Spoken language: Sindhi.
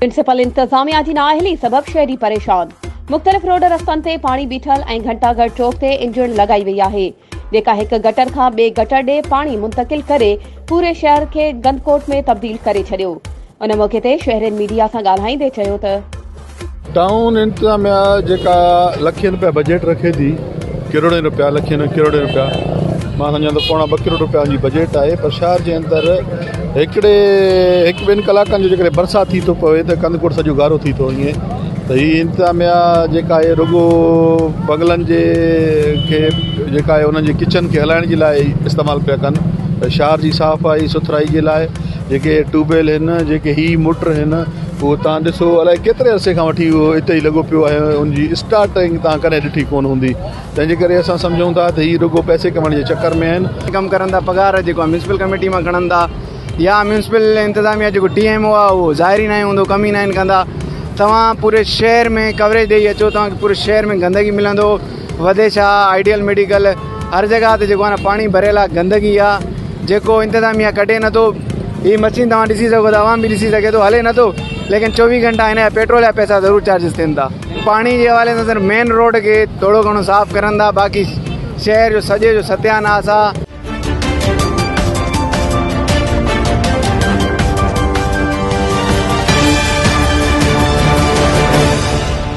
ميونسپل انتظاميا جي نااهلي سبب شهري پريشان مختلف روڊ رستن تي پاڻي بيٺل ۽ گهنٽا گهر چوڪ تي انجڻ لڳائي وئي آهي جيڪا هڪ گٽر کان ٻئي گٽر ڏي پاڻي منتقل ڪري پوري شهر کي گندڪوٽ ۾ تبديل ڪري ڇڏيو ان موقعي تي شهرين ميڊيا سان ڳالهائيندي چيو ته ٽائون انتظاميا جيڪا لکين رپيا بجيٽ رکي ٿي ڪروڙين رپيا لکين ۽ ڪروڙين رپيا مان سمجهان ٿو پوڻا ٻه ڪروڙ رپيا جي بجيٽ آهي پر شهر جي اندر هڪڙي هڪ ٻن ڪلاڪن جو جيڪڏهن برسات ٿي ٿو پوي ته ڪنڌ ڪوٽ سڄو گارو ٿي ٿو وڃي ته هي انتظاميا جيڪا آهي رڳو بنگلن جي کي جيڪا آهي انهن جي ڪچن کي هلائڻ جي لاء استعمال پيا ڪن شهر جي صافائي سٿرائي جي لاء جيڪي ٽيوب ويل آهن جيڪي هي موٽر آهن اهو توهان ڏسو الائي ڪيتري عرصي کان وٺي اهو اتي ئي لڳو پيو آهي ان جي اسٽارٽنگ توهان ڪڏهن ڏٺي ڪونه هوندي تنهن جي ڪري اسان سمجهون ٿا ته هي رڳو پئسي ڪمائڻ جي چڪر ۾ آهن. ڪم ڪرن ٿا پگهار جيڪو ميونسپل ڪميٽي مان کڻن ٿا يا ميونسپل انتظاميا جيڪو ٽي ايم او آهي اهو ظاهر ئي ناهي هوندو ڪم ئي ناهن ڪندا توهان پوري شهر ۾ ڪوريج ڏئي اچو توهان کي پوري شهر ۾ گندگي ملندو وڌي ڇا آئيڊيل ميڊيڪل هر جڳهه تي جيڪو آهي نه پاڻي ڀريل آهي گندگي آهي جيڪو انتظاميا ڪڍي نٿو هي مشين توهان ڏسي سگهو ٿا عوام به ڏسي سگهي ٿو هلي نٿو ليڪن چوويهه گهنٽا هن جا پيٽرول جا پئسا ضرور چارجز ٿين ٿا پاڻي جي حوالي سان صرف مين روڊ کي ٿورو گهڻو صاف ڪرن ٿا باقي شهر جو سڄي جو ستياناس آهي